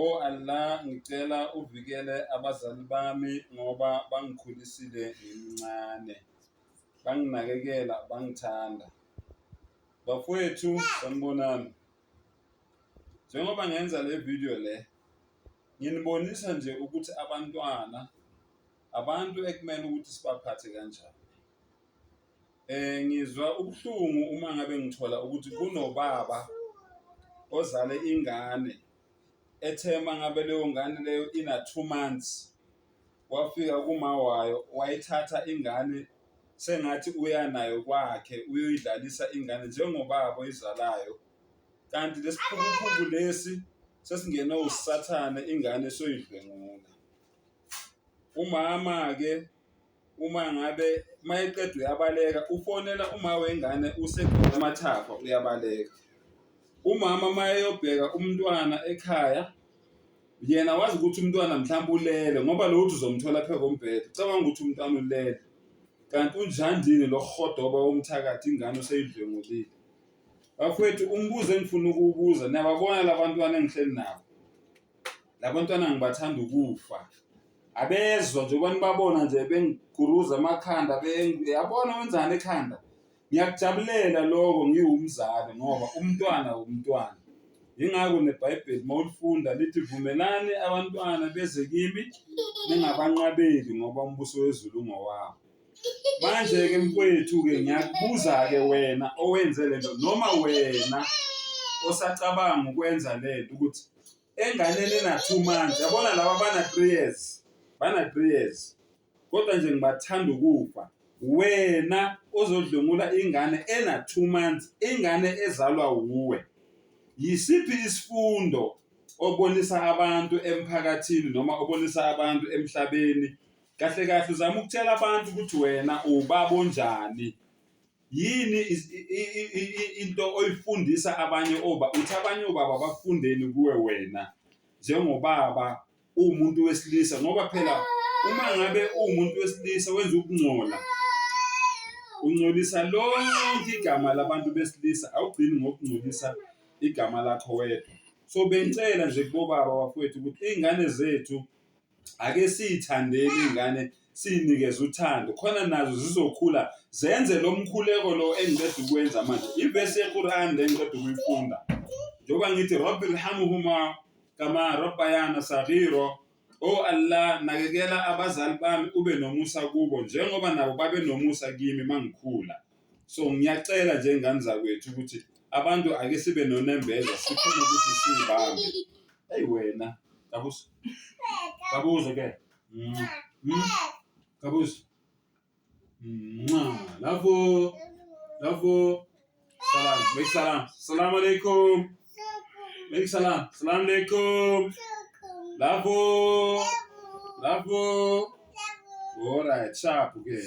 O Allah ngicela uvikele abazali bami ngoba bangikhulisile ngimncane, banginakekela, bangithanda. Bafowethu sanibonani, njengoba ngenza le video le nginibonisa nje ukuthi abantwana abantu ekumele ukuthi sibaphathe kanjani. Ngizwa ubuhlungu uma ngabe ngithola ukuthi kunobaba ozale ingane ethe uma ngabe leyo ngane leyo ina-two months wafika kuma wayo wayithatha ingane sengathi uya nayo kwakhe uyoyidlalisa ingane njengobaba oyizalayo, kanti lesi phukuphuku lesi sesingene usathane ingane soyidlwengula. Umama-ke. Uma ngabe uma eqeda uyabaleka ufonela uma wengane useqeda amathafa uyabaleka. Umama uma eyobheka umntwana ekhaya yena wazi ukuthi umntwana mhlawumbe ulele ngoba lo uthi uzomthola phezu kombhede ucabanga ukuthi umntwana ulele kanti unjandini lo rhodoba womthakathi ingane useyidlwengulile. Bafowethu umbuzo engifuna ukuwubuza niyababona la bantwana engihleli nabo? labantwana ngibathanda ukufa abezwa nje kwani babona nje bengiguruza amakhanda yabona wenzani ekhanda ngiyakujabulela lokho ngiwumzali ngoba umntwana wumntwana yingakho nebhayibheli uma ulifunda lithi vumelani abantwana beze kimi ningabanqabeli ngoba umbuso wezulu ungowabo manje-ke mfowethu-ke ngiyakubuza-ke wena owenze le nto noma wena osacabanga ukwenza le nto ukuthi enganeni ena-two months yabona laba bana-three years bana-three years kodwa nje ngibathanda ukufa wena ozodlwengula ingane ena-two months ingane ezalwa wuwe yisiphi isifundo obonisa abantu emphakathini noma obonisa abantu emhlabeni kahle kahle uzama ukutshela abantu ukuthi wena ubaba onjani Yini into oyifundisa abanye oba uthi abanye obaba bafundeni kuwe wena njengobaba uwumuntu wesilisa ngoba phela uma ngabe uwumuntu wesilisa wenza ukungcola ungcolisa lonke igama labantu besilisa awugcini ngokungcolisa igama lakho wedwa so bengicela nje kubobaba bafowethu ukuthi iy'ngane zethu ake siyithandeni iy'ngane siy'nikeze uthando khona nazo zizokhula zenze lo mkhuleko lo engiqeda ukwenza manje ivesi yequran le engiqeda ukuyifunda njengoba ngithi rabbi lhamuhuma kama rabbayana sagiro o oh allah nakekela abazali bami ube nomusa kubo njengoba nabo babe nomusa kimi mangikhula so ngiyacela njengani zakwethu ukuthi abantu ake sibe nonembeza sikhona ukuthi sibambe eyi wena kabuso kabuso ke mm. mm. kabuso nxa lafo lafo salam make salam salam alaikum make salam salam alaikum lafo lafo all right sharp ke okay.